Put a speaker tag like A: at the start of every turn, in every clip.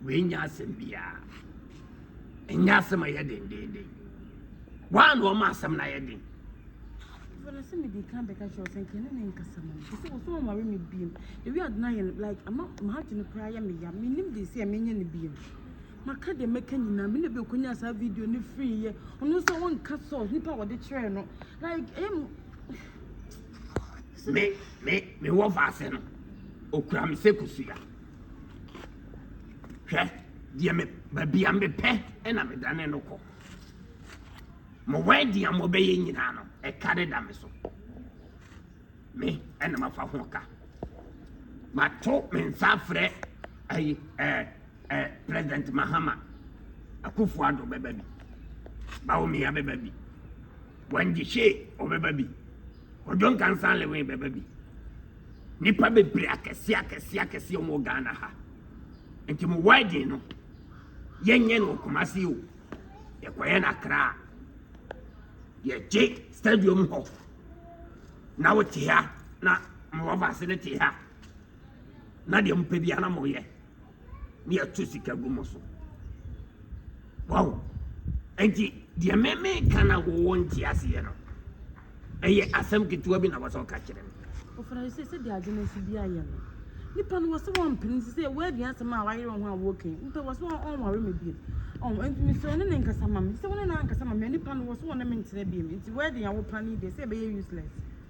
A: wei nyɛ asɛm biara ɛnyɛ asɛm a ɛyɛ dendeenden waa na ɔma asɛm no ayɛ den
B: fana sɛ mede ka bɛka kyerɛ sɛ nka ne ne nkasa mu sɛ wɔ so ɔnware me biom ɛwi adena yɛ like ama mahagye no koraa yɛ meya menim de sɛ menyɛ no biom Maka deɛ mɛka nyinaa me na bi okonyaa saa video no free yɛ ɔno nso a ɔnka source nipa a ɔde kyerɛɛ no like ɛyɛ mu
A: me me me wɔ vaase no okura me sɛ kusua hwɛ deɛ me baabi a mepɛ ɛna medane no kɔ mo wɛdi a mobɛyɛ nyinaa no ɛka de da me so me ɛna mafa ho ka mato me nsa frɛ ayi ɛɛ Ɛ President Mahama, Akuffo Addo bɛba bi, Bawumia bɛba bi, Wendy Shea ɔbɛba bi, Kojo Nkansah Lewin bɛba bi. Nipa bebree akɛseɛ akɛseɛ akɛseɛ wɔn wɔ Ghana ha. Nti mo wedding no, yɛnyɛ no wɔ Kumasi o, yɛkɔyɛ no Accra. Yɛgye stadium hɔ na wote ha na mo lovers no te ha. na deɛ mopɛ biara na moyɛ ne yɛto sika gu mo so wow nti deɛ meme ka na wowɔ nte aseɛ no ɛyɛ asɛm ketewa bi na wɔsɛ ɔka kyerɛ me ɔfana sɛ sɛ
B: deɛ agye no nso bi ayɛ no nipa no wɔ sɛ wɔmpene sɛ sɛ wɔadi asɛm a wayere ho a wɔka yi nipa wɔ sɛ ɔnware me biom ɔn nti mesɛ ɔne ne nkasa ma me sɛ ɔne ne ankasa ma me nipa no wɔ sɛ ɔne me ntena biom nti wɔadi a wopane deɛ sɛ ɛbɛyɛ useless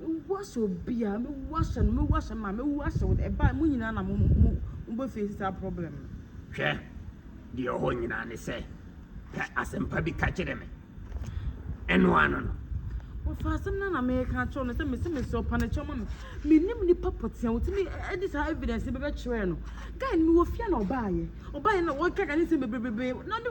B: Mɛwu ahyɛ obiara, mɛwu ahyɛ no, mɛwu ahyɛ maa, mɛwu ahyɛ wo. Ɛbaa mo nyinaa na mo mo mo bɛ face saa problem no. Hwɛ,
A: deɛ ɛwɔ hɔ nyinaa ne sɛ, pɛ asɛmpa bi ka kyerɛ me. Ɛno ano no. Wɔfa asɛm
B: no na meka akyerɛ no sɛ mese me sɛ ɔpa no kyɛw ma me. Menim nipa pɔtea wotumi de saa evidence bɛbɛkyerɛ no. Guy no mewɔ fie na ɔbaayɛ. Ɔbaayɛ na wɔkeka ne nsɛm bebrebe na ne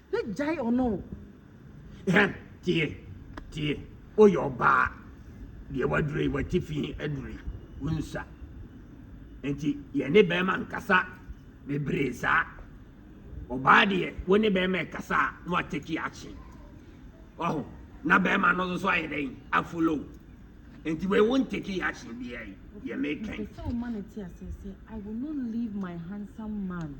B: Hwɛ gyae ɔno o. Hɛ
A: tie tie woyɛ ɔbaa deɛ waduro yi watifi aduro yi wonsa nti yɛne bɛrima nkasa bebree saa ɔbaa deɛ wo ne bɛrima ɛkasa a na wateki akye waho na bɛrima no nso ayɛ dɛn afolow nti wei wo nteki akye deɛ yɛ mekɛn. Mpɛ sɛ ɔma no te
B: aseɛ sɛ I will not leave my handsome man.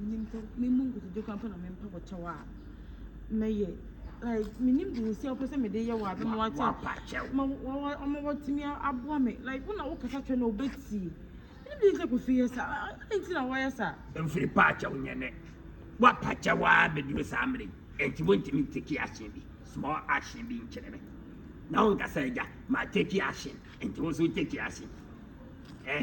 B: Nyimpa memu nkotodwe koraa mpo na mempa wɔ kyɛw a mɛyɛ like menim nsi a ɔpɛ sɛ mede yɛ wɔ a bɛma wakyɛ ma ɔma wɔtumi aboa me like wo na wo kasa kyerɛ na ɔbɛtie menim de sɛ kɔso yɛ sa adɛn nti na wɔyɛ sa mfiri pa akyɛw
A: nyɛ nɛ woapa kyɛw a bɛduru saa mmerɛ yi ɛnti wontumi nteki ahyɛn bi small ahyɛn bi nkyerɛ me na wonkasa agya ma teki ahyɛn ɛnti wo so teki ahyɛn eh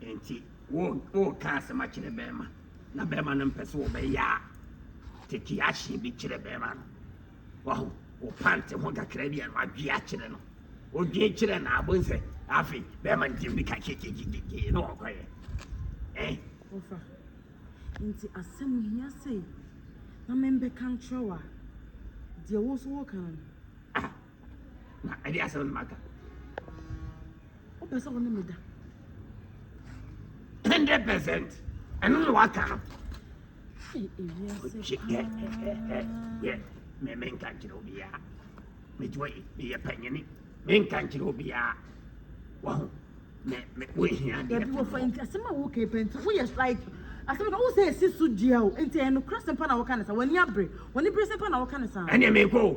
A: Enti wo woka asɛm akyerɛ bɛrima na bɛrima no mpɛ sɛ wɔbɛyɛ a tete ahye bi kyerɛ bɛrima no wahu wo pante ho kakra bi a no adwe akyerɛ no odwe kyerɛ na abɔ nsɛ afei bɛrima no tumi ka kyekyekyekyekye na wɔkɔyɛ eh ɔfa
B: nti asɛm hia sei na membɛka nkyerɛ wo a deɛ wo so woka no ah
A: na ɛde asɛm no maka
B: wopɛ sɛ wo ne meda 100
A: percent ɛno na waka no yɛ menka nkyerɛ obiaa megyina yi meyɛ panyini menka nkyerɛ obiaa waho wohia deɛasɛm
B: a woka pɛnti woyɛ like asɛm ka wo sɛ ɛsi so dua o nti ɛnokorɛ sɛm pa na woka ne sa w'ani abere w'ani bere sɛm pa na woka ne saa ɛneɛ mekɔ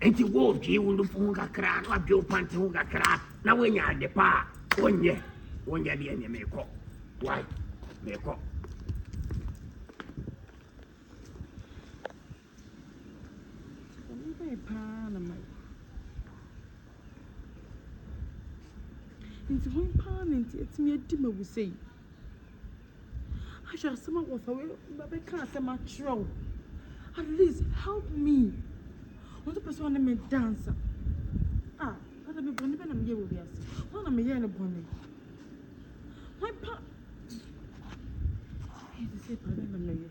A: Enti wodwee wo nufu ho kakra na wadwe wo pante ho kakra na woanya ade pa a wonyɛ wonyɛ deɛ neɛ meekɔ wai meekɔ paa
B: na ma nti hon paa na nti atumi adi ma wo sei Ahwɛ asɛm a wɔfa wei bɛka asɛm akyerɛ wo. At least help me. Wɔn pɛ sɛ wɔne me dance. Ah, ada bi bɔne bɛ na meyɛ wɔ wiase. Wɔn na meyɛ no bɔne. Wɔn pa. Ɛyɛ te sɛ paa bɛ na meyɛ.